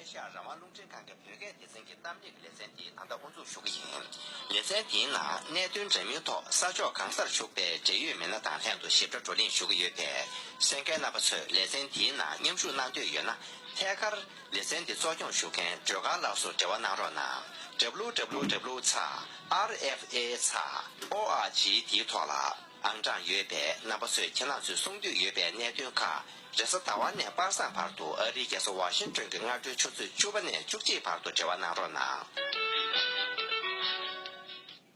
ཨེ་ཤ་ཡ་རང་དབང་རླུང་འཕྲིན་ཁང་གི་བོད་སྐད་སྡེ་ཚན་གྱི་གཏམ་བཤད་ཀྱི་ལེ་ཚན་དེ་ད་ལྟ་དབུ་འཛུགས་ཞུ་གི་ཡིན། ལེ་ཚན་དེའི་ནང་གནད་དོན་འདྲ་མིན་ཐོག་ས་ཕྱོགས་གང་སར་བཞུགས་པའི་འབྲེལ་ཡོད་མི་སྣ་དང་ལྷན་དུ་ཞིབ་ཕྲ་བགྲོ་གླེང་ཞུ་གི་ཡོད་པས་སེང་གེ་རྣམ་པ་ཚོས་ལེ་ཚན་དེའི་ནང་མཉམ་ཞུགས་གནང་འདོད་ཡོད་ན་ཐད་ཀར། ལེ་ཚན་འདི་གཙོ་སྐྱོང་ཞུ་མཁན་སྒྲོལ་དཀར་ལགས་སུ་འབྲེལ་བ་གནང་རོགས་གནང www. RFA. Org དེའི་ཐོག་ལ། ཨང་གྲངས་ཡོད་པའི་རྣམ་པ་ཚོས་ཁྱེད་རྣམས་ཚོས་གསུང་འདོད་ཡོད་པའི་གནད་དོན་ཁག་རེ་ས་ཟླ་བ་ནས་དཔག་བསམ་བར་དུ་ཨ་རིའི་རྒྱལ་ས་ཝ་ཤིང་ཏོན་གྱི་སྔ་དྲོའི་ཆུ་ཚོད་བཅུ་བ་ནས་བཅུ་གཅིག་བར་དུ་འབྲེལ་བ་གནང་རོགས་གནང།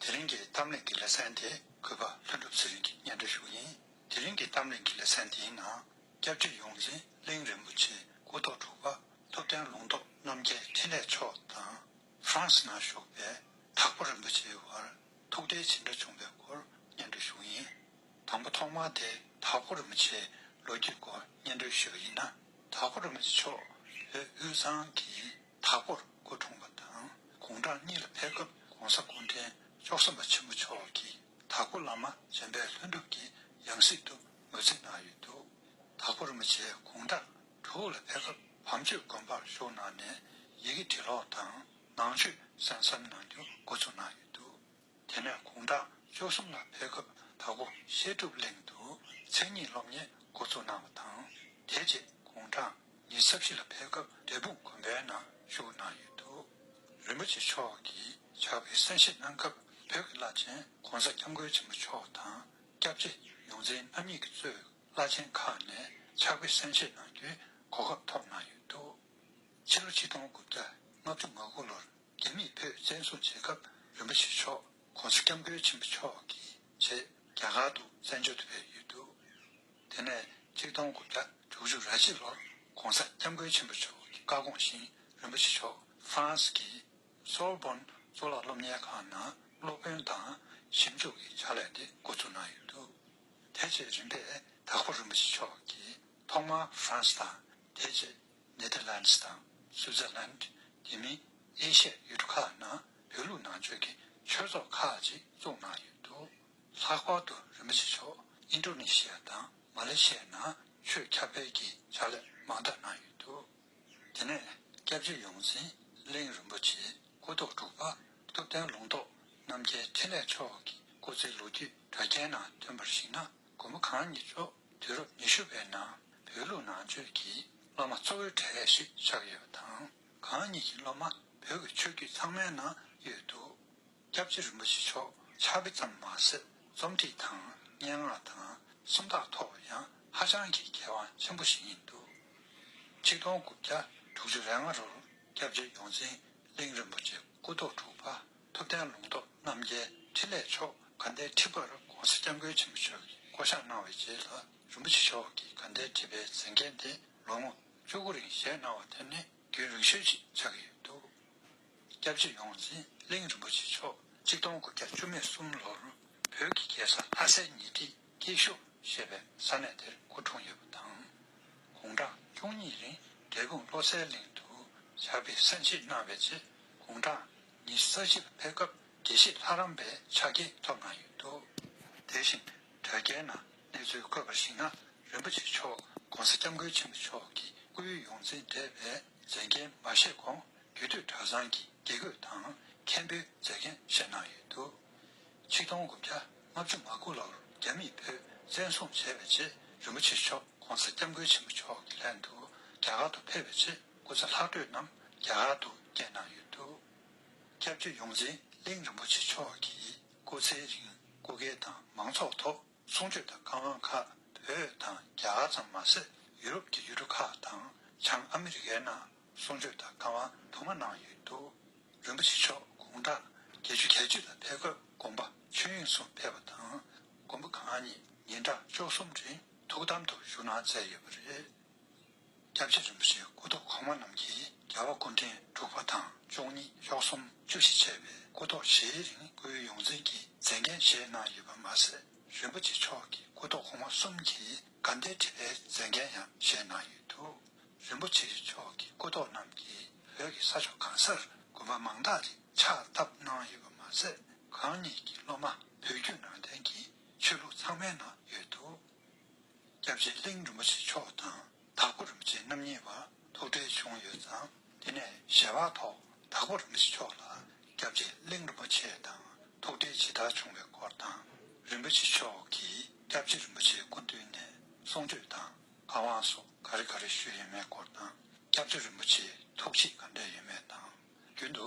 དེ་རིང་གི་གཏམ་གླེང་གི་ལེ་ཚན་དེ་གུས་པ་ལྷུན་གྲུབ་ཚེ་རིང་གི་སྙན་འགྲེལ་ཞུ་ཡིན། དེ་རིང་གི་གཏམ་གླེང་གི་ལེ་ཚན་དེའི་ནང་སྐྱབས་རྗེ་ཡོངས་འཛིན་གླིང་རིན་པོ་ཆེའི་སྐུ་ཐོག་དྲུག་པ་ཐུབ་བསྟན་ལུང་རྟོགས་རྣམ་རྒྱལ་འཕྲིན་ལས་མཆོག་དང། ཧྥྲང་སི་ན་བཞུགས་པའི་དྭགས་པོ་རིན་པོ་ཆེའི་བར་ཐུགས་འབྲེལ་ཇི་འདྲ་བྱུང་པའི་སྐོར་སྙན་སྒྲོན་ཞུ་ཡིན། དང་པོ་ཐོག་མར་དེ་དྭགས་པོ་རིན་པོ་ཆེའི་ལོ་རྒྱུས་སྐོར་སྙན་སྒྲོན་ཞུ་བ་ཡིན་ན་དྭགས་པོ་རིན་པོ་ཆེ་མཆོག་བོད་དབུས་གཙང་གི་དྭགས་པོར་སྐུ་འཁྲུངས་པ་དང་དགུང་གྲངས་གཉིས་ལ་ཕེབས་སྐབས་གོང་ས་སྐུ་འཕྲེང་མཆོག་སེམས་དཔའ་ཆེན་པོ་མཆོག་གིས་དྭགས་པོ་བླ་མ་རྗེན་པའི་ལྷུན་གྲུབ་ཀྱི་ཡང་སྲིད་དུ་ངོས་འཛིན་གནང་ཡོད་འདུག་དྭགས་པོ་རིན་པོ་ཆེའི་དགུང་གྲངས། དྲུག་ལ་ཕན་ཚུན་བམ་ཆོས་དགོན་པར་ཞུགས་གནང་ནས་ཡི་གེ་འབྲི་ཀློག་དང་ནང་ཆོས་གསན་བསམ་གནང་རྒྱུ་འགོ་ཚུགས་གནང་ཡོད་འདུག་དེ་ནས་དགུང་གྲངས་བཅུ་གསུམ་ལ་ཕེབས་སྐབས་ད་སྐུ་བཤད་སྒྲུབ་གླིང་དུ་མཚན་ཉིད་སློབ་གཉེར་འགོ་ཚུགས་གནང་བ་དང། དེ་རྗེས་དགུང་གྲངས་ཉི་ས་བཞི་ལ་ཕེབས་སྐབས་འབྲས་སྤུངས་དགོན་པའི་ནང་བཞུགས་གནང་ཡོད་འདུག་རིན་པོ་ཆེ་མཆོག་གིས་ཕྱག་དཔེ་གསན་བཞེས་གནང་སྐབས་བོད་ཀྱི་བླ་ཆེན་གོང་ས་སྐྱབས་མགོན་ཆེན་པོ་མཆོག་དང་སྐྱབས་རྗེ་ཡོངས་འཛིན་རྣམ་གཉིས་ཀྱིས་གཙོས། བླ་ཆེན་ཁག་ནས་ཕྱག་དཔེ་གསན་བཞེས་གནང་རྒྱུའི་གོ་སྐབས་ཐོབ་གནང་ཡོད་འདུག་ཕྱི་ལོ་ཆིག་སྟོང་དགུ་བརྒྱ་ལྔ་བཅུ་ང་དགུ་ལོར་རྒྱ་མིས་བོད་བཙན་བཟུང་བྱེད་སྐབས་རིན་པོ་ཆེ་མཆོག་གོང་ས་སྐྱབས་མགོན་ཆེན་པོ་མཆོག་གི་ཆེད་རྒྱ་གར་དུ་བཙན་བྱོལ་དུ་ཕེབས་ཡོད་འདུག་དེ་ནས་ཆིག་སྟོང་དགུ་བརྒྱ་དྲུག་ཅུ་ར་གཅིག་ལོར་གོང་ས་སྐྱབས་མགོན་ཆེན་པོ་མཆོག་གི་བཀའ་དགོངས་བཞིན་རིན་པོ་ཆེ་མཆོག France གི Sorbonne གཙུག་ལག་སློབ་གཉེར་ཁང་ནང་སློབ་དཔོན་དང་ཞིབ་འཇུག་གི་ཕྱག་ལས་དེ་འགོ་བཙུགས་གནང་ཡོད་འདུག། དེ་རྗེས་རིམ་པས་དྭགས་པོ་རིན་པོ་ཆེ་མཆོག་གིས་ཐོག་མར France དང་དེ་རྗེས Netherlands དང Switzerland དེ་མིན་ཨེ་ཤ་ཡུལ་གྲུ་ཁག་ནང་བོད་ལུགས་ནང་ཆོས་ཀྱི་ཆོས་ཚོགས་ཁག་ཅིག་བཙུགས་གནང་ཡོད་འདུག་ལྷག་པར་དུ་རིན་པོ་ཆེ་མཆོག Indonesia དང Malaysia ནང་ཆོས་ཁྱབ་སྤེལ་གྱི་ཕྱག་ལས་མང་དག་གནང་ཡོད་འདུག་དེ་ནས་སྐྱབས་རྗེ་ཡོངས་འཛིན་གླིང་རིན་པོ་ཆེ་སྐུ་རྟོགས་དྲུག་པ་ཐུབ་བསྟན་ལུང་རྟོགས་རྣམ་རྒྱལ་ཕྲིན་ལས་མཆོག་གི་སྐུ་ཚེའི་ལོ་རྒྱུས་དྲ་རྒྱའི་ནང་ཐོན་པར་གཞིགས་ན་དགོན་པ་གང་ཉིད་ཕྱོགས་དུས་རབས་ཉི་ཤུ་པའི་ནང་བོད་ལུགས་ནང་ཆོས་ཀྱི་སློབ་མ་གཙོ་བོའི་གྲས་ཤིག་ཆགས་ཡོད་པ་དང་གང་ཉིད་ཀྱི་སློབ་མ་བོད་ཀྱི་ཆོས་བརྒྱུད་ཚང་མའི་ནང་ཡོད་འདུག་སྐྱབས་རྗེ་རིན་པོ་ཆེ་མཆོག་ཕྱག་དཔེ་ཙམ་མ་ཟད་རྩོམ་བྲིས་དང་སྙན་ངག་དང་སུམ་རྟགས་ཐོག་ལ་ཡང་ཧ་ཅང་གི་མཁས་དབང་ཆེན་པོ་ཞིག་ཡིན་འདུག་ཆིག་སྟོང་དགུ་བརྒྱ་དྲུག་ཅུ་རེ་ལྔ་རོལ་སྐྱབས་རྗེ་ཡོངས་འཛིན་གླིང་རིན་པོ་ཆེ་སྐུ་ཐོག་དྲུག་པ་ཐུབ་བསྟན་ལུང་རྟོགས་རྣམ་རྒྱལ་འཕྲིན་ལས་མཆོག་དགའ་ཟླའི་ཁྲི་པར ྋགོང་ས ྋསྐྱབས་མགོན་ཆེན་པོ་མཆོག་གིས་བསྐོ་བཞག་གནང་བའི་རྗེས་ལ་རིན་པོ་ཆེ་མཆོག་གིས་དགའ་ཟླའི་ཁྲི་པའི་མཛད་འགན་དེ་ལོ་ངོ་བཅུ་དགུ་རིང་བཞེས་གནང་བ་དེ་ནི་རྒྱུན་རིང་ཤོས་ཅིག་ཆགས་ཀྱི་ཡོད་འདུག་སྐྱབས་རྗེ་ཡོངས་འཛིན་གླིང་རིན་པོ་ཆེ་མཆོག་གཅིག་སྟོང་དགུ་བརྒྱ་བཅུ་མེད་གསུམ་ལོར་བོད་ཀྱི་རྒྱལ་ས་ལྷ་སའི་ཉེ་འཁྲིས་སྐྱིད་ཤོག་ཞེས་པའི་ས་གནས་དེར་སྐུ་འཁྲུངས་ཡོད་པ་དང། དགུང་གྲངས་བཅུ་གཉིས་རིང་འབྲས་སྤུངས་བློ་གསལ་གླིང་དུ་ཞགས་པའི་ས་མཆིད་གནང་བའི་རྗེས་དགུང་གྲངས་ཉི་ས་བཞི་ལ་ཕེབས་སྐབས་དགེ་བཤེས་ལྷ་རམས་པའི་ཕྱག་འཁྱེར་ཐོབ་གནང་ཡོད་འདུག་དེ་བཞིན་དྲ་རྒྱའི་ནང་གནས་ཚུལ་བཀོད་པར་གཞིགས་ན་རིན་པོ་ཆེ་མཆོག ྋགོང་ས ྋསྐྱབས་མགོན་ཆེན་པོ་མཆོག་གི་སྐུ་ཡུལ་ཡོངས་འཛིན་གྲས་པའི་མཛད་འགན་མ་བཞེས་གོང་རྒྱུད་སྟོད་གྲྭ་ཚང་གི་དགེ་བསྐོས་དང་མཁན་པོའི་མཛད་འགན་བཞེས་གནང་ཡོད་འདུག། ཆིག་སྟོང་དགུ་བརྒྱ་ལྔ་བཅུ་ང་དགུ་ལོར་རྒྱ་མིས་བོད་བཙན་བཟུང་བྱས་པའི་རྗེས་རིན་པོ་ཆེ་མཆོག ྋགོང་ས ྋསྐྱབས་མགོན་ཆེན་པོ་མཆོག་གི་ལྷན་དུ་རྒྱ་གར་དུ་ཕེབས་པའི་རྗེས་སྐུ་ཚེ་ལྷག་འཕྲོས་རྣམས་རྒྱ་གར་དུ་བསྐྱལ་གནང་ཡོད་འདུག་སྐྱབས་རྗེ་ཡོངས་འཛིན་གླིང་རིན་པོ་ཆེ་མཆོག་གི་སྐུ་ཚེའི་རིང་སྐུ་སྒེར་དང་མང་ཚོགས་ཐོག་ཚོང་ཆོས་དང་བཀའ་དབང་ཁག་བོད་དང་རྒྱ་གར་ཙམ་མ་ཟད་ཡུ་རོབ་ཀྱི་ཡུལ་གྲུ་ཁག་དང་བྱང་ཨ་མི་རི་ཀའི་ནང་ཚོང་ཆོས་དང་བཀའ་དབང་དུ་མ་གནང་ཡོད་འདུག་རིན་པོ་ཆེ་མཆོག་དགུང་གྲངས་བརྒྱད་ཅུ་གྱ་གཅིག་ལ་ཕེབས་སྐབས་དགོངས་པ་ཆོས་དབྱིངས་སུ་ཕེབས་པ་དང་དགོན་པ་གང་ཉིད་ཉིན་གྲངས་བཅུ་གསུམ་རིང་ཐུགས་དམ་དུ་བཞུགས་གནང་མཛད་ཡོད་པ་རེད། སྐྱབས་རྗེ་རིན་པོ་ཆེའི་སྐུ་ཐོག་གོང་མ་རྣམས་ཀྱིས་རྒྱལ་བ་སྐུ་འཕྲེང་དྲུག་པ་དང་བཅུ་གཉིས་གཅོག་གསུམ་བཅུ་བཞི་བྱས་པའི་སྐུ་ཐོག་བཞིའི་རིང་སྐུའི་ཡོངས་འཛིན་གྱི་མཛད་འགན་བཞེས་གནང་ཡོད་པ་མ་ཟད་རིན་པོ་ཆེ་མཆོག་གི་སྐུ་ཐོག་གོང་མ་གསུམ་གྱི་དགའ་ཟླའི་ཁྲི་པའི་མཛད་འགན་ཡང་བཞེས་གནང་ཡོད་འདུག་རིན་པོ་ཆེ་མཆོག་གི་སྐུ་ཐོག་རྣམས་ཀྱིས་བོད་ཀྱི་ས་ཕྱོགས་གང་སར་དགོན་པ་མང་དག་ཅིག་ཕྱག་བཏབ་གནང་ཡོད་པ་མ་ཟད་གང་ཉིད་ཀྱི་སློབ་མ་བོད་བརྒྱུད་ནང་བསྟན་གྱི་ཆོས་ལུགས་ཚང་མའི་ནང་ཡོད་འདུག། སྐྱབས་རྗེ་གླིང་རིན་པོ་ཆེ་མཆོག་དང་དྭགས་པོ་རིན་པོ་ཆེ་རྣམ་གཉིས་བར་ཐུག་འཕྲད་བྱུང་ཡོད་ཙང་དེ་ནས་ཞལ་བག་ཐོག་དྭགས་པོ་རིན་པོ་ཆེ་མཆོག་ལ་སྐྱབས་རྗེ་གླིང་རིན་པོ་ཆེ་དང་ཐུག་འཕྲད་ཇི་ལྟར་བྱུང་བའི་སྐོར་དང། རིན་པོ་ཆེ་མཆོག་གིས་སྐྱབས་རྗེ་རིན་པོ་ཆེའི་སྐུ་མདུན་ནས་གསུང་ཆོས་དང་བཀའ་དབང་སོགས་ག་རེ་ག་རེ་ཞུས་ཡོད་མེད་སྐོར་དང་སྐྱབས་རྗེ་རིན་པོ་ཆེའི་ཐུགས་བསྐྱེད་ག་འདྲ་ཡོད་མེད་དང་རྒྱུན་དུ་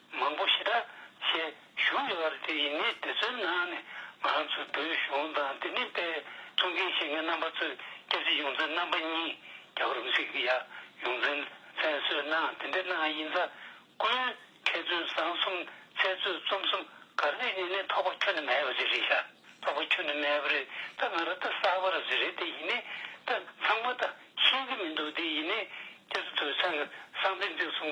མང་པོ་ཞེ་དྲག་ཞེས་བཞུགས་ཡོད་པ་རེད་དེ་ཡིན་ངེས་དེ་ཚོའི་ནང་ནས་ང་རང་ཚོའི་བོད་གཞུང་དང་དེ་ནས་དཔེ་མཚོན་མཁན་ཞེ་ལྔའི་རྣམ་པ་ཚོས་སྐྱབས་རྗེ་ཡོངས་འཛིན་རྣམ་པ་གཉིས་རྒྱ་གར་རུ་སིག་ཡ་ཡོངས་འཛིན་བཙན་བཟོས་གནང་དེ་འདྲའི་གནང་ཡིན་ཚ་ཀུན་མཁས་བཙུན་བཟང་གསུམ་ཚེ་བཙོད་རྩོམ་གསུམ་གར་རེད་ནས་ནས་ཐོག་པ་ཁྱོ་ནས་མེད་པ་རེད་རེད་ཤ་ཐོག་པ་ཁྱོ་ནས་མེད་པ་རེད་ད་ང་ར་ད་གསར་པ་ར་རེད་རེད་དེ་ཡིན་ནས་ད་ཚང་མ་ད་ཤེས་ཀྱི་མི་འདུག་དེ་ཡིན་ནས་སྐྱབས་རྗེ་ཐོས་བསམ་གསང་མཚན་བརྩེགས་གསུམ་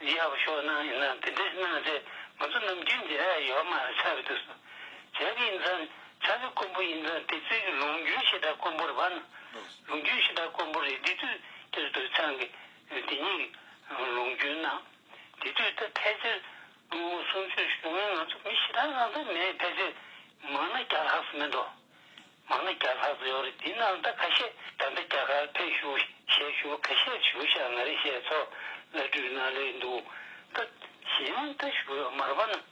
འདི་ཡག་ཤོས་གནང་ཡིན་ན་དེ་འདྲས་གནང་སྟེ་ང་ཚོ་ནམ་རྒྱུན་འདི་རས་ཡོད་མ་རེད་ཆགས་ཀྱི་འདུག་སོ་བྱས་ཀྱི་ཡིན་ཙང་ཆགས་ཀྱི་དཀོན་པོ་ཡིན་ཙང་དེ་ཚོའི་གི་ལུང་རྒྱུན་ཞེ་དྲག་དཀོན་པོ་རེད་བ་ན་ལུང་རྒྱུན་ཞེ་དྲག་དཀོན་པོ་རེད་དེ་དུས་དེར་དུ་ཆང་གི་དེ་ཉིད་གི་ལུང་རྒྱུན་གནང་དེ་དུས་ད་ཕལ་ཆེར་སྔོན་མོ་གསུམ་བཅུ་བཞུགས་མོད་ང་ཚོ་མི་ཞེ་དྲག་རང་ཚོ་མེད་ཕལ་ཆེར་མང་ན་བརྒྱ་ལྷག་སུ་མེད་འགྲོ། མ་ཎི་རྒྱ་ལྷ་ཟེར་བ་རེད་དེ་ནང་ཟླ་ཁ་ཤས་ད་ལྟ་རྒྱ་གར་ཕེབས་བཞུགས་ཞལ་བཞུགས་ཁ་ཤས་བྱུང་ཞག་ང་རེ་ཞལ་ཚོགས་བླ་སྤྲུལ་ནང་ལས་འདུག་སྟབས་གཞན་མིང་ད་བཞུགས་ཡོད་མ་རེད་པ་ནང་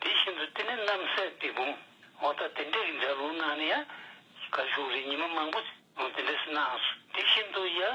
དེ་བཞིན་དུ་དེ་ནི་རྣམ་སྲས་སྡེ་འབུམ་འོ་ད་དེ་འདྲའི་རིགས་འདྲ་ལུགས་ནང་ནས་ཡང་གར་བཞུགས་རིགས་ཉི་མ་མང་པོ་འོ་དེ་འདྲས་སུ་སྣང་སོང་དེ་བཞིན་དུ་ཡང།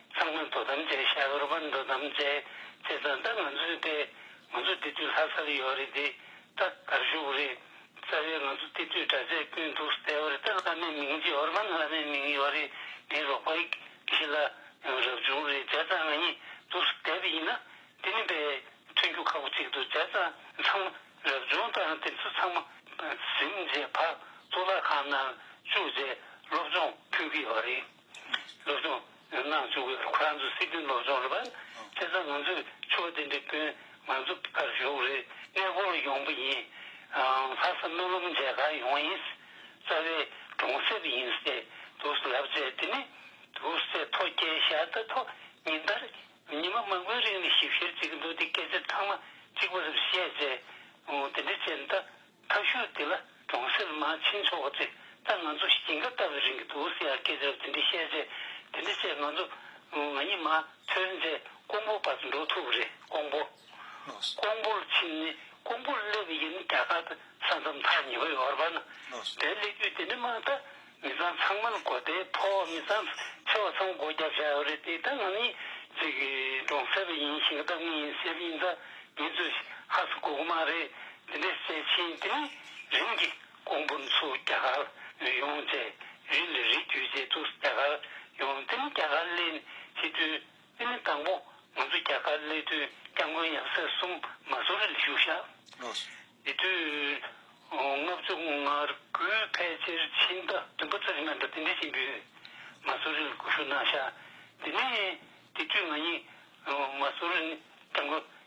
ཚང་མ་དོ་དམ་བྱས་ཤ་རུ་པར་འགྲོ་དམ་བྱས་བྱས་ཙང་ད་ང་ཚོས་བལྟས་ང་ཚོ་བདེ་སྡུག་ལྷག་ས་རུ་ཡོད་རེད་དེ་ད་གར་བཞུགས་རེད་རྩ་བའི་ང་ཚོ་བལྟས་དུས་དྲ་ཚད་དཔོན་འདུག་ཟེར་བ་རེད་ད་བླ་མའི་མིང་རྗེ་ཧོར་པན་བླ་མའི་མིང་ཡོད་རེད་ངའི་རོགས་པ་ཡིག་གཞི་ལ་ཡང་རབ་བྱུང་རེད་བྱས་ཙང་ང་གཉིས་འདུག་ཟེར་བ་ཡིན་ན་དེ་ནི་དཔེ་མཐུན་རྒྱུ་ཁག་པོ་ཅིག་འདུག་བྱས་ཙང་ཚང་མ་རབ་བྱུང་དང་དེ་ཚོ་ཚང་མ་གཟིམས་རྗེས་བར་གཙུག་ལག་ཁང་ནང་བཅུག་རྗེས་སློབ་སྦྱོང་ཕུལ་གྱི་ཡོད་རེད། སློབ་སྦྱོང་ནུས་ན་འཛུགས་དགོས་ཁོ་རང་ཚོ་སྲིད་དོན་སློབ་སྦྱོང་རེད་པ། དེ་ཚོ་ང་ཚོས་ཆོས་བསྟན་པའི་དཔོན་ང་ཚོ་ཕར་བཞུགས་རེད་གནས་སྐོར་ཡོང་པ་ཡིན། ལྷ་ས་སྨོན་ལམ་མཇལ་ཁ་ཡོང་བ་ཡིན། རྩ་བའི་གྲོང་གསེབ་ཡིན་ཚེ་དུག་སེལ་ལབ་ཙེ་དེ་ནི་དུག་སེལ་ཐོ་སྐྱེལ་བྱ་ད་ཐོ་ཉིན་ལྟར་ཉི་མ་མང་པོའི་རིང་ནས་ཞིབ་བཤེར་བྱེད་ཀྱི་འདུག་དེ་སྐད་ཆ་ཚང་མ་གཅིག་པ་རེད་བཤད་རྗེས་དེ་འདྲའི་བྱེད་ན་ད། ཐབས་ཤུགས་དེ་ལ་གྲོང་གསེབ་མ་ཕྱིན་ཆོག་པ་དེ་ད་ང་ཚོ་ཞིང་ཁ་བཏབ་པའི་རིང་གི་འདུག་ཟེར་ཡག་སྐད་ཆ་དེ་འདྲ་བཤད་རྗེས་དེ་འདྲ་བྱས་ང་ཚོ་ང་གཉིས་མ་ཐོན་རྗེས་ཀོང་པོ་བར་དུ་འགྲོ་ཐུབ་པ་རེད་ཀོང་པོ། ཀོང་པོ་ལ་ཕྱིན་ནས་ཀོང་པོར་སླེབས་པ་ཡིན་རྒྱ་གར་དུ་ས་མཚམས་མཐར་ཉེ་བའི་ཡོ་རོབ་པ་ན་བསྡད་སླེབས་རྒྱུ་དེ་འདྲ་མ་གཏོགས་མི་བཟང་ཚང་མར་མགོ་བདེ་ཕོ་མི་བཟང་ཆེ་བ་ཚང་མགོ་རྒྱ་བཞག་ཡོད་རེད་དེ་ད་ང་ནི་ཅིག་གྲོང་གསེབ་པ་ཡིན་ཞིང་བདག་མི་ཡིན་སེར་ཡིན་ད་ངེད་ཚོས་ཧ་ས་གོ་གི་མ་རེད་དེ་འདྲས་བྱས་ཕྱིན་དེ་མིན་རིམ་གྱིས་ཀོང་པོ་མཚོ་རྒྱ་གར་ལ་ཡོང་རྗེས་རི་ལ་རི་བརྒྱུད་རྗེས་ཏུ་རྒྱ་གར་ཡོང་དེ་མིན་རྒྱ་གར་གླེན་བྱེད་དུས། དབུ་མའི་དང་པོ། ང་ཚོ་རྒྱ་གར་གནས་མཐུན་སྐྱབས་མགོན་ཡང་སྲས་གསུམ་མ་གསུང་རེ་ལ་བཞུགས་ཤག། དེ་དུས་ལྔ་བཅུ་ལྔར་དགུའི་ཕལ་ཆེར་ཕྱི་ཟླ་བདུན་པ་ཚོ་རེ་ནང་འདྲ་དེ་འདྲས་ཅིག་འབུལ། མ་གསུང་རེ་ལ་སྒུག་ཞུགས་གནང་ཤག། དེ་ནས་དེ་དུས་ང་གཉིས་མ་གསུང་རེ་སྐྱབས་མགོན་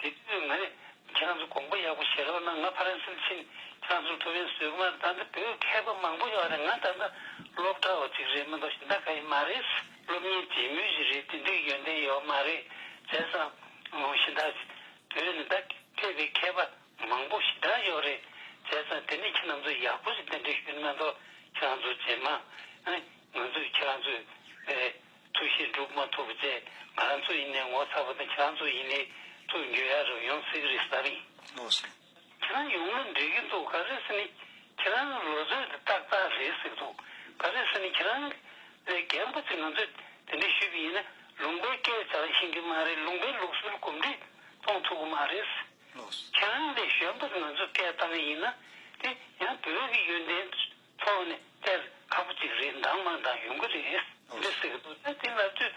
དེ་དུས་ང་ནི་ཁྱེད་རང་ཚོས་དགོངས་པ་ཡག་པོ་བཞེས་རོགས་གནང་ང་ཕ་རན་སིར་ཕྱིན་ཁྱེད་རང་ཚོར་ཐུགས་རེ་ཟུག་མ་རེད་ད་ལྟ་བོད་མཁས་པ་མང་པོ་ཡོད་རེད་ང་ད་ལྟ་སློབ་གྲྭ་བ་ཅིག་རེད་མི་འདུག་ཤིང་རྟ་ཁ་ཡི་མ་རེད་སློབ་གཉེར་བྱེད་མུས་ཤིག་རེད་དེ་འདྲའི་ཡོན་ཏན་ཡོད་མ་རེད་བྱས་སམ། ཤིང་རྟ། བོད་ནི་ད་ཁྱད་པའི་མཁས་པ་མང་པོ་ཞེ་དྲག་ཡོད་རེད་བྱས་སམ་དེ་ནས་ཁྱེད་རང་ཚོས་ཡག་པོ་ཞིག་དེ་འདྲའི་ཞུས་མི་འདུག་ཁྱེད་རང་ཚོ་རྗེས་མ་ང་ཚོས་ཁྱེད་རང་ཚོའི་ཐུགས་བཞེད་འགྲུབ་མ་ཐུབ་བཅས་ང་རང་ཚོ་ཡིན་ནས་ངོ་ཚ་བ་དང་ཁྱེད་རང་ཚོ་ཡིན་ནས་ཚུར་འགྱོད་ཡ་རབ་ཡོང་སྲིད་རེད་བསམ་ཡིན། ཁྱེད་རང་ཡོང་ལོ་འགྲིག་གི་འདུག་ག་རེ་ཟེར་ནས་ཁྱེད་རང་གི་ལོ་ཚོད་དེ་ཏག་ཏག་རེད་ཟེར་གི་འདུག་ག་རེ་ཟེར་ནས་ཁྱེད་རང་ལས་རྒན་པོ་ཚོས་ང་ཚོས་དེ་འདྲ་ཞུས་པ་ཡིན་ན་ལུང་པའི་སྐད་བྱ་ཤེས་ཀྱི་མ་རེད་ལུང་པའི་ལུགས་སྲོལ་གོམས་འདྲིས་གཏོང་ཐུབ་གི་མ་རེད། ཁྱེད་རང་ལས་གཞོན་པ་ཚོས་ང་ཚོས་སྐད་བཏང་གི་ཡིན་ན་དེ་ཡང་བོད་ཀྱི་ཡོན་ཏན། ཚོགས་ནི་གཏེར་ཁ་པོ་གཅིག་རེའི་འདང་མང་འདང་ཡོང་གི་རེད། འདི་ཟེར་གི་འདུག་ད་དེ་ལབ་དུས་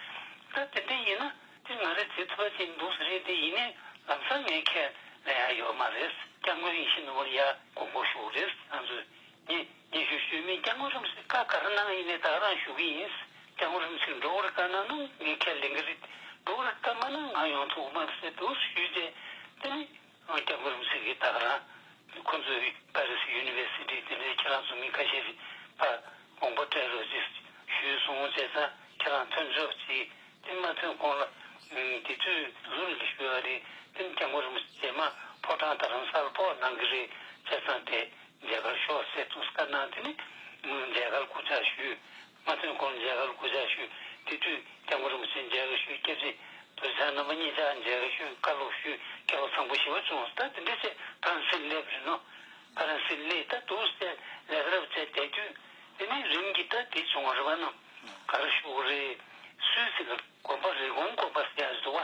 ད་དེ་འདི་ཡིན་ན་དེ་ང་རེ་བྱེད་ཐུབ་པ་ཅིག་འདུག་ཟེར་རེད་དེ་ཡིན་ནའི་ལམ་སང་ངའི་ཁས་ལེན་ཡག་ཡོད་མ་རེད་སྐྱབས་མགོན་ཡེ་ཤེས་ནོར་བུར་ཡག་གོ་གོ་ཞུ་རེད་ང་ཚོས་ངས་ངས་ཞུ་ཞུས་མིན་སྐྱབས་མགོན་རིམ་ཚིག་ཀ་ག་རེ་གནང་ཡིན་ནའི་དག་རང་ཞུ་གི་ཡིན་སྐྱབས་མགོན་རིམ་ཚིག་འགྲོ་བར་དཀའ་ན་ནང་ངས་ཁས་ལེན་གི་རེད་འགྲོ་བར་དཀའ་མ་གནང་ང་ཡོང་ཐུག་མ་ཟེར་དུས་ཞུས་རྗེས་དེ་ནི་སྔོན་སྐྱབས་མགོན་རིན་པོ་ཆེ་གིས་ད་ག་ལ་ཁོང་ཚོས་པར་རིས་ཡུ་ནི་བེར་སི་ཏི་དེ་འདྲའི་ཁྱེད་རང་ཚོ་མི་ཁ་ཤས་རིག་པ་དགོངས་པ་སྤྲད་རོགས་གྱིས་ཞུས་སོང་བྱས་ཙང་ཁྱེད་རང་ཐོན་ཆོག་ཅིག་སྟིམ་མ་ཐོན་གོང་ལ་དེ་དུས་ལུགས་རིགས་ལ་ཞུས་བ་རེད་སྟིམ་སྐྱབས་མགོན་རིན་པོ་ཆེ་མ་ཕོ་བྲང་དང་རང་སར་ཕོག་གནང་གི་རེད་བྱས་ཙང་དེ་མཇལ་ཁར་ཤོག་ཟེར་དུས་སྐར་གནང་དེ་ནས་མོས་མཇལ་ཁར་སྐུ་ཕྱག་ཞུས་སྔ་ཐུན་གོང་མཇལ་ཁར་གུས་ཕྱག་ཞུས་དེ་དུས་སྐྱབས་མགོན་རིན་པོ་ཆེ་མཇལ་ཁ་ཞུས་སྐྱབས་རྗེ་བུ་ཚ་རྣམ་པ་གཉིས་ཆ་མཇལ་ཁ་ཞུས་བཀའ་སློབ་ཞུས་དགེ་སློབ་ཚང་པོ་ཞི་བ་བྱུང་བ་ལྟ་དེ་འདྲའི་ཆེད་ཕ་རན་སིར་སླེབས་རིན་ནོ། ཕ་རན་སིར་སླེས་ལྟ་དུས་སེ་ལེ་ཁ་རབ་བཅས་བསྡད་དུས་དེ་ནས་རིམ་གྱིས་ལྟ་དེ་བྱུང་བ་རེ་བ་རྣམས་ག་རེ་བཞུགས་རེད་སུད་སི་ལ་དགོན་པ་རེ་གོང་བསྐོར་པ་སེ་ཡ་བཟོ་བ།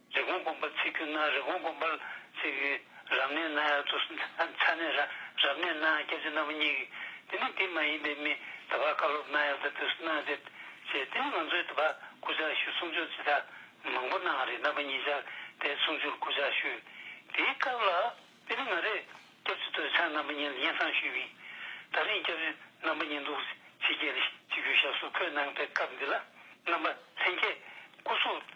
རི་གོང་སྒོམ་པར་ཚིག་གྱུར་ན་རི་གོང་སྒོམ་པར་ཚིག་གི། རབ་གནས་ན་ཡང་དུ་ཚ་ནས་ར་རབ་གནས་ན་སྐྱེ་མཆེད་རྣམ་པ་གཉིས་ཀྱི། དེ་ནི་དེ་མ་ཡིན་པའི་མི་དེ་བར་བཀའ་སློབ་གནང་ཡང་དུ་དུས་སུ་གནང་སྟེ། ཞེས་དེ་ནི་ང་ཚོས་དུ་བར་སྐུ་ཕྱག་བཞུགས་གསུང་ཆོས་སྤྱི་དག་མང་པོ་གནང་བ་རེད་རྣམ་པ་གཉིས་ཆར་དེ་གསུང་ཆོས་སྐུ་ཕྱག་བཞུགས་དེའི་སྐབས་ལ། དེ་ནི་ང་རེ་སྐྱབས་རྗེ་སྟོད་ཆང་རྣམ་པ་གཉིས་ལ་སྙན་གསང་ཞུས་པའི་ད་རིང་སྐྱབས་རྗེ་རྣམ་པ་གཉིས་འདུག་ཕྱི་རྒྱལ་ལ་སྤྱི་རྒྱུ་ཞབས་སོར་འཁོད་གནང་པའི་སྐབས་འདི་ལ་རྣམ་པ་ལྷན་རྒྱས་སྐུ་གཟུགས་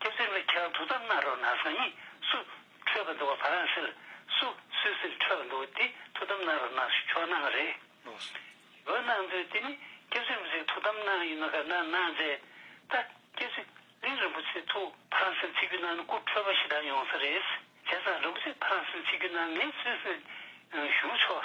ཁྱེད་ཚོའི་མི་ཁྱེད་རང་ཐུགས་དམ་གནང་རོགས་གནང་སང་ཉིན་སུ་འཕྲོད་པར་འདུག་བ་བྷ་རན་སིལ་སུ་སུད་སིལ་འཕྲོད་པར་འདུག་བ་དེ་ཐུགས་དམ་གནང་རོགས་གནང་ཆོག་གནང་གི་རེད་བོད་གནང་མཛོད་དེ་ནི་ཁྱེད་ཚོའི་མི་ཚེ་ཐུགས་དམ་གནང་ཡིན་ནོ་ག་གནང་གནང་མཛད་ད་ཁྱེད་ཚོས་གླིང་རིན་པོ་ཆེ་ཐུགས་བྷ་རན་སིལ་ཚིག་རྒྱུ་གནང་ནི་སྐུ་འཕྲོད་པ་ཞིག་དང་ཡོང་ས་རེད་བྱས་ཙང་རིན་པོ་ཆེ་བྷ་རན་སིལ་ཚིག་རྒྱུ་གནང་ངས་སུད་སིལ་ཞུགས་ཆོག་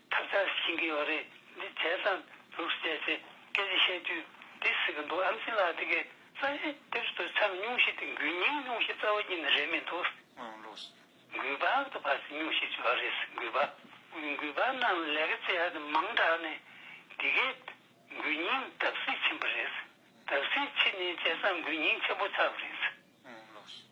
ཐབས་བརྒྱ་རེ་བྱིན་གྱིས་ཡོ་རེ་འདི་བྱས་སམ་ལུགས་སུ་བྱས་ཚེ་སྐད་ཅིག་བཤད་དུས་འདི་ཟེར་གྱི་འདུག་ཨམ་ཆིན་ལགས་འདི་གའི་གསང་གཞི་དེབ་གཟུགས་དེར་ཆམ་སྙུང་གཞི་དེ་འགུལ་སྙིང་སྙུང་གཞི་རྩ་བ་ཉིད་ནས་རེད་མི་འདུག། ཨང་ལོགས། འགུལ་བག་ཏུ་བར་ཆད་སྙུང་གཞི་བྱེད་པ་རེད་འགུལ་བག། འགུལ་བག་རྣམས་ལས་ཀ་བྱེད་ཡག་དེ་མང་དྲགས་ནས་འདི་གའི་འགུལ་སྙིང་བརྡབ་གསིག་ཕྱིན་པ་རེད། བརྡབ་གསིག་ཕྱིན་ནས་བྱས་སམ་འགུལ་སྙིང་ཆེན་པོ་ཆགས་པ་རེད། ཨང་ལོགས།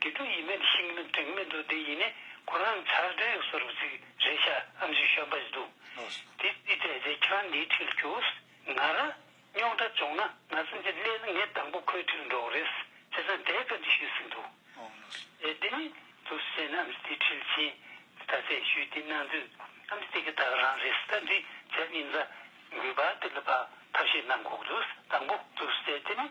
དེ་དུས་ཡིད་མེད་ཤིང་མེད་དྲེག་མེད་འདུག་དེ་ཡིན་ནས་ཁོ་རང་ཚར་བགྲེས་གསོ་རུ་ཚིག་རེ་བྱ་ཨམ་ཆུ་ཤོད་པ་ཞིག་འདུག་དེ་དུས་བལྟས་ཚེ་ཁྱོད་འདིའི་འཁྲིལ་རྒྱུགས་ང་ར་རྙོག་དྲ་བྱུང་ན་ང་ཚོ་འདི་སླེ་ལ་ངས་དང་པོ་ཁོའི་འཁྲིལ་འགྲོ་གི་རེད་ཅེས་ཙང་དེའི་བཀའ་འདྲི་ཞུས་ཟིན་འདུག་ཨེ་དེ་མིན་དུ་ཟེར་ནས་ཨམ་ཏི་འཁྲིལ་ཆེན་དེ་ད་ཚད་ཞུས་དེ་གནང་དུས་ཨམ་ཏི་དེ་ག་དག་རང་རེད་ཟེར་ད་འདྲི་བྱས་ཉིན་རྫ་མགུལ་བ་དེ་ལ་བག་ཐབས་ཤིག་གནང་དགོས་ཀྱི་འདུག་དང་པོ་དུ་ཟེར་དེ་མིན་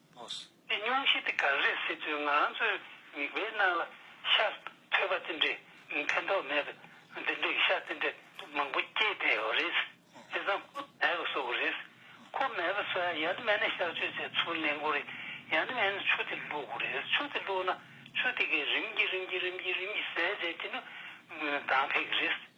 པོས། འདི་སྙུང་གཞི་དེ་གངས་རིའི་སྲིད་ཚོད་ང་རང་ཚོའི་མིག་དཔེའི་ནང་ལ་ཤར། ཐོས་པ་དེ་འདྲའི་ཕན་ཐོགས་མེད་པས་འདི་འདྲའི་ཤ་དེ་འདྲ་མང་པོ་སྐྱེས་བསྡད་ཡོད་རེད། དེ་བཟང་པོ་མེད་པ་བཟོ་གི་རེད། ཁོ་མེད་པ་སོ་ཡ་ཡང་ན་མེད་ན་གཤགས་བཅོས་བྱས་ཚུར་གླན་དགོས་རེད། ཡང་ན་མེད་ན་ཆུ་དེ་བླུག་དགོས་རེད། ཆུ་དེ་བླུག་ན་ཆུ་དེ་གས་རིམ་གྱིས་རིམ་གྱིས་རིམ་གྱིས་རིམ་གྱིས་ཟད་རྗེས་དེ་ནི་མདངས་འཕེལ་གི་རེད།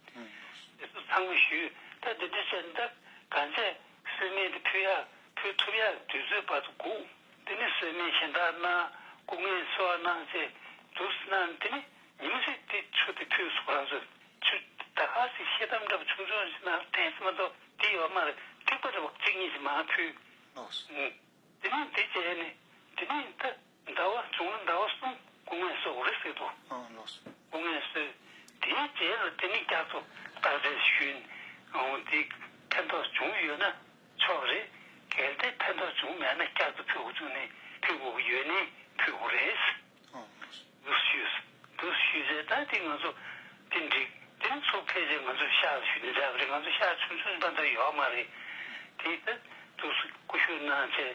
ཚང་མས་ཞུས་ད་ལྟ་འདི་ཚོའི་མདའ་ག་ཚད་གསོས་སྨན་དེ་ཕུལ་ཡ་ཕུལ་ཐུབ་ཡ་དུས་ཚོད་བར་དུ་འགུག་འདི་ནི་གསོས་སྨན་གཞན་དག་ནང་སྐུ་ངལ་གསོ་བ་གནང་ཚེ་འདུག་ཟེར་ན་འདི་ནི་ཉི་མ་ཚེ་འདི་ཆུ་དེ་ཕུལ་སོང་རང་ཚོས་ཆུ་ད་ག་ཚེ་ཤེས་དམ་འདྲ་བ་ཆུང་ཆུང་ཞིག་ནང་ཐེངས་གསུམ་མ་ཏོག་འདི་ཡོ་མར་ཐིགས་པ་འདྲ་བ་གཅིག་གཉིས་ཞིག་མ་ཕུལ། འདི་ནི་འདི་བྱས་ནས་འདི་ནི་ད། ཟླ་བ་བྱུང་ལ་ཟླ་བ་གསུམ་སྒོ་ངའི་སོགས་རི་བསྲེགས་ཏོ། སྒོ་ངའི་སོས་དེའི་རྗེས་ལ་དེ་ནི་རྒྱ་མཚོ་བཏགས་འདྲའི་ཤུལ། འདི་ཕན་ཐོགས་བྱུང་ཡོད་ན་ཆོག་རེད། གལ་ཏེ་ཕན་ཐོགས་བྱུང་མེད་ན་སྐྱར་དུ་ཕུལ་དགོས་བྱུང་ནས་ཕུལ་དགོས་ཀྱི་ཡོད་ནི་ཕུལ་དགོས་རེད། འདུ་ཤེས་འདུ་ཤེས་ཟེར་ད་དེ་ང་ཚོ་དེ་འགྲིག་དེ་ནི་ཚོ་ཕལ་ཆེར་ང་ཚོས་ཤག་ཞུས་ནས་བསྡད་པ་རེད་ང་ཚོས་ཤག་ཆུང་ཆུང་ཟིན་པ་འདྲ་ཡོད་མ་རེད། དེའི་ཐད་དུ་སྐུ་ཞུ་གནང་ཆེད།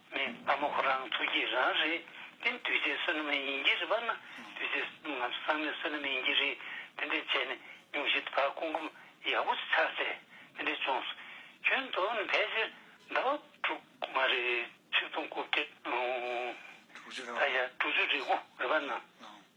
མེད་ལྟ་མོ་ཁོ་རང་ཚོ་ཁྱེད་རང་རེད་དེ་དུས་ཚོད་བསོད་ནམས་ཡིན་གྱི་རེད་པ་ན་དུས་ཚོད་ང་ཚོ་ཚང་མས་བསོད་ནམས་ཡིན་གྱི་རེད་དེ་འདྲས་བྱས་ནས་ཉུང་ཤས་བར་སྐུ་འཁུམ་ཡག་པོ་ཆགས་ཚེ་དེ་འདྲས་བྱུང་སོང་ཁྱོད་མདོ་ནས་ཕལ་ཆེར་ཟླ་བ་དྲུག་མ་རེད་ཆིག་སྟོང་དགུ་བརྒྱ་ད་ཡར་དྲུག་ཅུ་རེ་དགུ་རེད་པ་ན།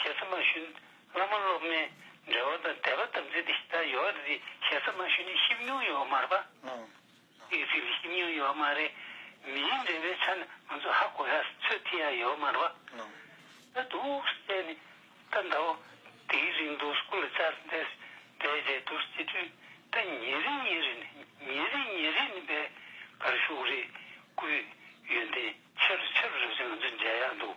ཞེ་ས་མ་ཞུ། བླ་མ་སློབ་མའི་འབྲེལ་བ་དང་དད་པ་དམ་ཚིག་འདི་ལྟར་ཡོད་པ་འདི་ཞེ་ས་མ་ཞུ་ནི་ཤེས་མྱོང་ཡོད་མ་རེད་པ། དམིགས་ཚིག་འདི་ཤེས་མྱོང་ཡོད་མ་རེད། མིའི་འབྲེལ་བའི་ཆ་ནས་ང་ཚོ་ཧ་གོ་ཡ་ཚོད་ཐིག་ཡ་ཡོད་མ་རེད་པ། ད་དུ་བསད་ནས་ད་འདའ་བ། དེའི་རིང་དུ་སྐུ་ལ་བཅར་འདས་སུ་བསྡད་རྗེས་དུ་སྤྱི་འཐུས་ད་ཉེ་རིང་ཉེ་རིང་ནས་ཉེ་རིང་ཉེ་རིང་ནས་བས་གར་བཞུགས་རེད་སྐུའི་ཡོན་ཏན་ཆེ་རུ་ཆེ་རུ་རེད་ཅེས་ང་ཚོ་མཇལ་ཡག་འདུག།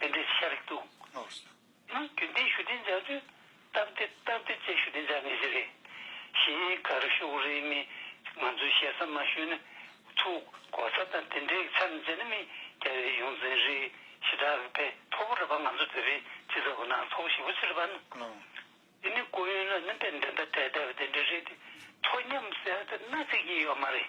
དེ་འདྲའི་ཤ་རིགས་འདུག། ནི་རྒྱུན་ལྡན་ཞུ་བདེ་འཇགས་དུས་སྟབས་བདེ་སྟབས་བདེ་བཅས་ཞུ་བདེ་འཇགས་ངེས་ཅན་རེད། གཞིས་སྒར་ཤོག་རེའི་མི་ང་ཚོས་ཞེ་ས་མ་ཞུས་ན་ཚུགས་གོ་ས་དང་དེ་འདྲའི་ཆ་མི་མཛད་ན་མི་རྒྱ་བའི་ཡོངས་འཛིན་རེད་ཞེ་དྲག་གི་ཕན་ཐོག་པོ་རེད་པ་ང་ཚོ་དེ་རིང་ཇི་ལྟ་བུ་སྣང་ཚོགས་ཞི་བོ་ཆེ་རེད་པ་འདི་ནི་ཀོ་ཡོན་ལ་ནི་དཔེ་འདི་འདྲ་དྲས་བསྡད་པ་དེ་འདྲ་རེད་དེ་ཚོ་ཉམས་སད་ཚེ་ན་ཚིག་ཡིན་ཡོད་མ་རེད།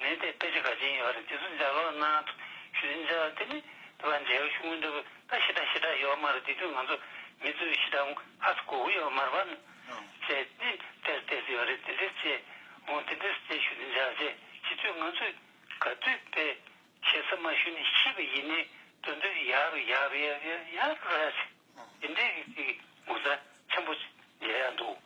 ནས་དེ་དཔེ་ཆ་ག་ཅི་ཡིན་བ་རེད་དེ་ཚོ་འཇགས་ལོག་གནང་ཞུ་དེ་འཇགས་དེ་ནི་དེ་བ་འཇལ་བ་ཤུགས་མི་འདུག་གི་ད་ཤི་དྲག་ཤི་དྲག་ཡོད་མ་རེད་དེ་དུས་ང་ཚོ་མི་ཚོས་ཤི་དྲག་ཧ་སུ་གོ་གི་ཡོད་མ་རེད་བ་ཅེས་ནི་དེར་བལྟས་སུ་ཡོད་རེད་དེ་འདྲས་ཅེས་འོང་དེ་འདྲས་ཅེས་ཞུ་དེ་འཇགས་ཅེས་ཤི་དུས་ང་ཚོས་ག་དུས་དཔེ་ཤེས་ས་མ་ཤུ་ནི་ཤི་བ་ཡིན་ནི་དོན་དུ་ཡ་རུ་ཡ་རུ་ཡ་རུ་ཡ་རུ་ར་ཅེས་དེ་འདྲས་ཀྱི་ཅིག་ངོ་ཚ་ཆེན་པོ་མཇལ་ཡ་འདུག།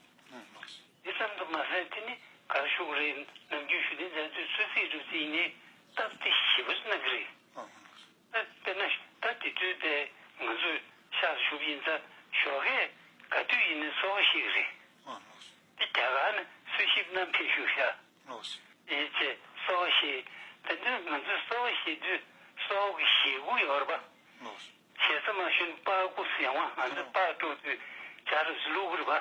འདི་ཙམ་དུ་མ་ཟད་དེ་ནི་གར་བཞུགས་རེས་ནམ་རྒྱུན་ཞུ་གཏན་མཛད་དུས་ཚོད་རྩིས་གྲུབ་རྩིས་ནས་སྟབས་བདེ་ཞིབ་པར་གནང་གི་རེད། དཔེར་ན་ད་དེ་དུས་ལྟས་ང་ཚོས་ཤག་ཏུ་ཞུགས་ཀྱིན་ཚ་ཞོར་ཁས་ག་དུས་ཡིན་ནས་ཚོར་བ་ཤེས་ཀྱི་རེད། འདི་རྒྱ་གར་ནས་གསོལ་ཞིབ་གནང་ཕེབས་ཞུ་ཤག་ཡིན་ཅེས་གསོལ་བ་བཞེས། དེ་དུས་ང་ཚོས་གསོལ་བ་བཞེས་དུས་གསོལ་བ་གི་ཞེ་དགུ་ཡོར་པ། ཞེ་ས་མ་ཞུན་པར་ཀུ་སི་ཡང་བ་ང་ཚོས་པར་སྤྲོ་དུས་རྒྱ་རུ་སི་ལུ་གུ་རི་བ།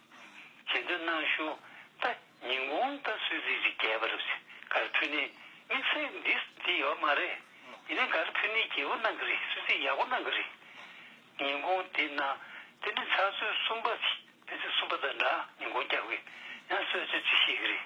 བྱེད་འདོད་སྣང་ཞུ། ད་ཉིན་གུང་ལྟ་ཚུལ་རིགས་རིགས་རྒྱས་པ་རེད། གར་འཕྲུལ་ནི་དམིགས་བསལ་འདི་འདི་ཡོད་མ་རེད། ཡིན་ནའི་གར་འཕྲུལ་ནི་རྒྱས་པོ་གནང་གི་རེད་སུད་སི་ཡག་པོ་གནང་གི་རེད། ཉིན་གུང་འདི་ན་དེ་ནི་ཚགས་ཚུད་གསུམ་པ་ཞིག་དེ་ཚོས་གསུམ་པ་དང་འདྲ་ཉིན་གུང་བསྐྱབས་གི་ཡང་གསོལ་ཚུལ་ཅིག་ཤེས་གི་རེད།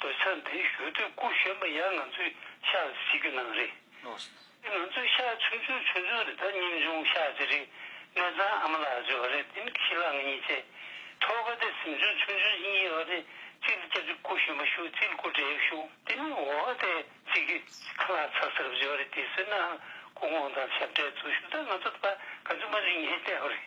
བོད་ས་འདི་ཞོལ་དུས་སྐུ་གཞོན་པ་ཡང་ང་ཚོའི་ཤག་རེད་ཟེར་རྒྱུ་ནང་རེད། དེ་ང་ཚོའི་ཤག་ཆུང་ཆུང་ཆུང་ཆུང་རེད་ད་ཉིན་བྱུང་ཤག་ཅི་རིགས་གནས་ཚང་ཨ་མ་ལགས་བརྗོད་པ་རེད་དེ་ནི་ཁྱི་ལག་ང་གཉིས་བཅས་ཐོག་ཁ་དེ་གཟིམ་ཆུང་ཆུང་ཆུང་གཉིས་ཡོད་པ་དེ་གཅིག་ལ་སྐྱབས་རྗེ་སྐུ་གཞོན་པ་ཞུ་གཅིག་ལ་སྐུ་བགྲེས་ཡག་ཞུ། དེ་ནི་འོ་ཨ་དེ་གཅིག་གི་ཁ་ལག་ཚ་ཟེར་བ་བརྗོད་པ་རེད་དེ་ཟེར་ནའང་སྐུ་ངོ་དང་ཞབས་གྲས་ཚོ་ཞུ་ད་ང་ཚོ་ད་ག་ཚོད་མ་གླིང་ཨེ་བལྟས་པ་རེད།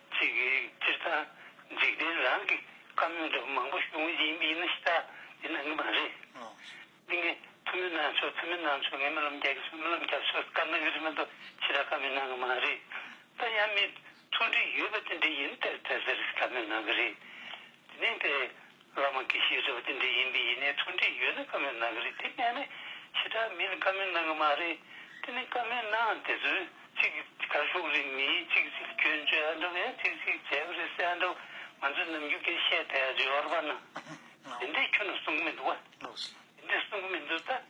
ཚིག་གི་སྤྱིར་བཏང་འཇིག་རྟེན་རང་གི་བཀའ་མོལ་དུ་མང་པོ་ཞུ་ངེས་ཡིན་ན་ཤི་ད་ཡིན་ན་ངེས་པ་རེད། འདི་ངས་ཐུ་མི་གནང་ཆོག་ཐུ་མི་གནང་ཆོག་ངས་རྨི་ལམ་རྒྱག་གི་སོང་རྨི་ལམ་རྒྱག་ཆོག་བཀའ་མོལ་གི་རིགས་མ་གཏོགས་ཕྱི་དྲ་བཀའ་མོལ་གནང་གི་མ་རེད། ད་ཡང་མི་ཚོགས་འདྲི་ཡོད་པ་དེ་འདྲ་ཡིན་དེ་ཟེར་ཟེར་བཀའ་མོལ་གནང་གི་རེད། དེ་ནས་དེ། བླ་མ་དགེ་བཤེས་ཟེར་བ་འདི་འདྲ་ཡིན་པས་ཡིན་ནའི་མཐུན་འབྲེལ་ཡོད་ན་བཀའ་མོལ་གནང་གི་རེད་དེ་མེད་ན་ཞེ་དྲག་མི་ལ་བཀའ་མོལ་གནང་གི་མ་རེད་དེ་ནི་བཀའ་མོལ་གནང་དེ་ཚོས་ཅིག་གར་ཤོག་རེད་མི་ཅིག་ཅིག་སྐྱོན་བརྗོད་ཨ་འདྲ་བ་ཡང་ཅིག་ཅིག་བྱས་པ་རེད་སེ་ཨ་འདྲ་བ་ང་ཚོས་ནམ་རྒྱུན་དེ་བཤད་དེ་རེད་བར་པ་ན་དེ་འདྲས་ཁྱོད་ནས་གསུང་གི་མི་འདུག་བ་དེ་འདྲས་གསུང་གི་མི་འདུག་ད།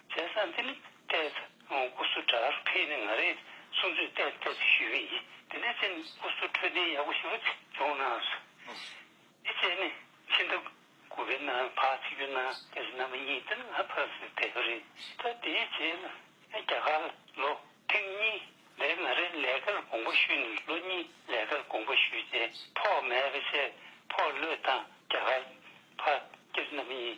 བྱས་ས་འདི་ནི་བལྟས་ཚེ་ཨུ་སུ་ཀྲར་ཕེ་ནི་ང་རེད་གསུངས་ཚུལ་བལྟས་བལྟས་ཚེ་ཞུས་ཀྱི་ཡིན་དེ་འདྲའི་ཚེ་ཨུ་སུ་འཕྲོད་བསྟེན་ཡག་པོ་ཞིག་ལ་སྦྱོང་ན་འདི་བཅས་ནི་ཕྱི་ཟླ་དགུ་པའི་ནང་བག་ཚིག་གི་ནང་དེ་རིང་ནམ་གཉིས་དེ་ལ་ཕར་ཟིག་བལྟས་པ་རེད་ད་དེའི་རྗེས་ལ་རྒྱ་གར་ལོ་ཐེངས་གཉིས་འདས་ང་རེ་ལས་ཀར་དགོངས་པ་ཞུས་ནས་ལོ་གཉིས་ལས་ཀར་དགོངས་པ་ཞུས་རྗེས་ཕོགས་མེད་པ་བྱས་ཕོགས་ལོས་དང་རྒྱ་གར་ཕར་སྐྱེལ་ནམ་ཡིན་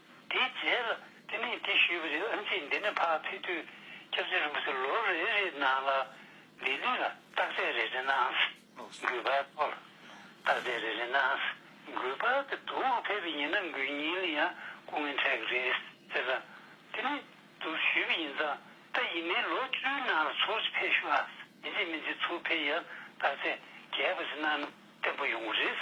དེའི་རྗེས་ལ་དེ་ནས་དེ་བཞུད་པའི་རིང་ཨིན་ཆིས་འདི་ནས་ཕ་ཕི་ཐུའི་སྐྱབས་རྗེ་རིན་པོ་ཆེ་ལོ་རེ་རེའི་ནང་ལ་འདི་ནས་ལ་རྟགས་རྫས་རེ་རེ་ནའང་འགུལ་བར་དོ། ལ་རྟགས་རྫས་རེ་རེ་ནའང་འགུལ་བར་དེ་དུ་བ་ཕེབས་པའི་ཉིན་ན་འགུལ་ཉིན་ལ་ཡང་སྐུ་ངལ་འཕྲད་ཀྱི་རེད་ཟེར་ལ། དེ་ནས་དུ་བཞུད་པའི་ཡིན་ཙང་ད་ཡིན་ནའི་ལོ་བཅུའི་ནང་ལ་ཚུར་ཕེབས་བཞུད་ཨ་ཨིན་ཆིས་མིན་ཆིས་ཚུར་ཕེབས་ཡང་རྟགས་རྫས་རྒྱས་པ་ཟིན་ན་ནི་བརྟན་པོ་ཡོང་གི་རེད།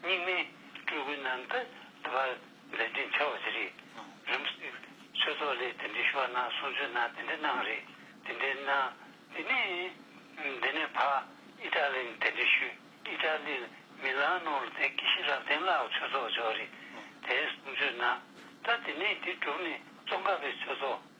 སྙིགས་མའི་སྤྲུལ་སྐུ་རྣམས་དུ་དུ་བ་མཛད་རྒྱུ་འཆར་བ་དེ་རེད། རིམ་བསྲེ་ཆོས་ཚོགས་ལས་དེ་འདྲའི་ཞུ་བ་གནང་གསུང་ཆོས་གནང་དེ་འདྲའི་གནང་རེད་དེ་འདྲའི་གནང། དེ་ནས་དེ་ནས་བག་ཨི་ཏྲ་ལི་ནས་དེ་འདྲའི་ཞུ་ཨི་ཏྲ་ལི་ལ་མི་ལང་ནོ་ལ་དེ་ཀི་ཤི་རབ་བསྟན་ལགས་ཆོས་ཚོགས་འབྱོར་རེད་དེ་གསུང་ཆོས་གནང། ད་དེ་ནས་དེ་གྲུབ་ནས་ཙོང་ཁ་པའི་ཆོས་ཚོགས།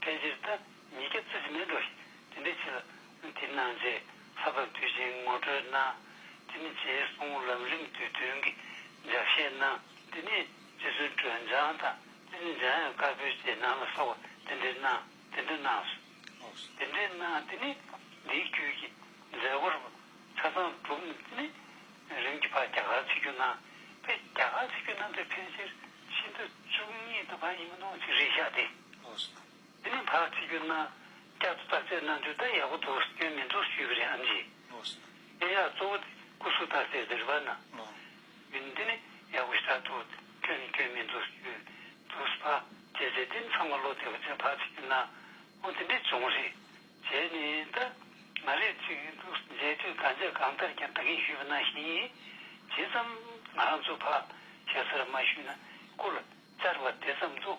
ཕལ་ཆེར་ད་ཉིད་སྐྱབས་ཚུལ་དྲི་མེད་འགྲོ་ཞིག་དེ་འདྲའི་ཕྱིར། འདི་སྣང་རྗེས་ཚབ་དང་དུས་ཆེན་ངོ་སྤྲོད་གནང། དེ་ནི་རྗེའི་གསུང་ལམ་རིམ་དུས་སྟོན་གྱི་སྦྱར་བཤད་གནང། འདི་ནི་རྗེ་བཙུན་སྒྲོལ་འཇམ་དང་དེ་ནི་འཇམ་དབྱངས་དཀར་པོའི་རྗེས་གནང་ལ་སོགས་པ་དེ་འདྲའི་གནང་དེ་འདྲ་གནང་སོ། དེ་འདྲའི་གནང་དེ་ནི་འདིའི་དཀྱུས་ཀྱི་མཛད་སྒོར་ཆ་ཚང་གྲུབ། དེ་ནི་རིམ་གྱིས་ཕ་རྒྱ་གར་ཆིག་རྒྱུགས་གནང། ཕ་རྒྱ་གར་ཆིག་རྒྱུགས་གནང་དུས་ཕལ་ཆེར་ཤིན་ཏུ་བཅུ་གཉིས་དང་པ་ཡིན་མི་ནོར་ཅིག་རེད་ཤག་དེ། འདི་ནས་བར་བྱེད་གྱུར་ན་བསྐྱར་དུ་བརྟག་དཔྱད་གནང་དུས་ད་ཡག་པོ་འདུག་སྐྱོན་མི་འདུག་ཞུས་པ་རེད་ཨང་ཅི། དེ་ཡང་གཙོ་བོ་དེ་སྐུ་གཟུགས་བརྟག་དཔྱད་ཟེར་བ་ན་མིན་འདི་ནས་ཡག་པོ་ཞག་ཐོག་སྐྱོན་ནི་སྐྱོན་མི་འདུག་ཞུས་འདུག་བར་བྱེད་ཟེར་དེ་ནི་ཚང་མ་བློ་བདེ་པོ་བྱས་བར་བྱེད་གྱུར་ན་ཁོང་དེ་འདྲས་བྱུང་རེད་བྱས་ནས་ད་མ་རེད་ཅིག་འདུག་མཇལ་དུས་གང་བྱས་གང་ལྟར་ཀྱང་བལྟ་གིན་ཞུས་པ་ན་བཞིན་ཇི་ཙམ་ང་རང་ཚོ་བར་བྱེད་ས་ར་མ་ཞུས་ན་སྐུ་ལ་བཅར་བ་དེ་ཙམ་འདུག་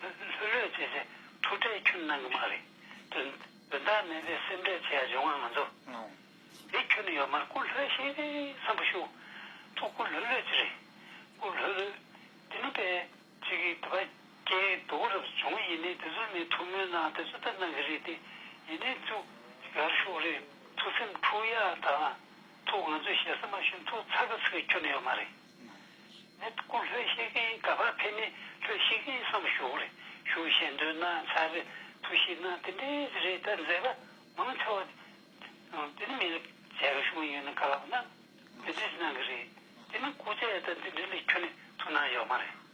ལྷོད་ལྷོད་བྱས་བྱས་ཐུགས་ཁྲལ་ཁྱོད་གནང་གི་མ་རེད་དོན་དོན་དག་མེད་པའི་སེམས་ཁྲལ་བྱེད་ཡ་འབྱུང་བ་ང་ཚོ་དེ་ཁྱོད་ནས་ཡོད་མར་སྐུ་ལྷོད་ཤིག་བསམ་པ་ཞུ་ཐུགས་སྐུ་ལྷོད་ལྷོད་ཅི་རེད་སྐུ་ལྷོད་ལྷོད་དེ་ནི་པས། ཅིག་གིས་དེ་པ་ཀྱེ་དུ་བ་རབས་བྱུང་ཡིན་ནའི་དེ་ཚོར་མི་ཐུགས་མོས་གནང་དེ་ཚོ་ལྟར་གནང་གི་རེད་དེ་ཡིན་ནའི་ཐུགས་ཡར་ཤོག་རེད་ཐུགས་སེམས་འཁྲུག་ཡ་དང་ཐུགས་ང་ཚོས་ཞེ་ས་མ་ཞུ་ཐུགས་ཚ་གི་ཚ་གི་ཁྱོད་ནས་ཡོད་མ་རེད། ནི་སྐུ་ལྷོད་ཤེས་མཁན་ག་པར་ཕེབས་ནས་ལྷོད་ཤེས་མཁན་བསམ་བཞུགས་རེ་ཞུ་བྱེད་འདོད་ན་ཚ་བའི་ཐུགས་གཤིས་ན་དེ་འདྲའི་རེད་ད་མཛད་པ་མང་ཆེ་བ་དེ་ནི་མི་རབས་རྒྱ་གར་བྱུང་ཡོད་ན་ག་ལ་ན་འདི་འདྲའི་གནང་གི་རེད་དེ་ནི་སྐུ་ཚད་ད་འདི་འདྲའི་ལས་ཁྱོན་ནས་ཐུགས་སྣང་ཡོད་མ་རེད།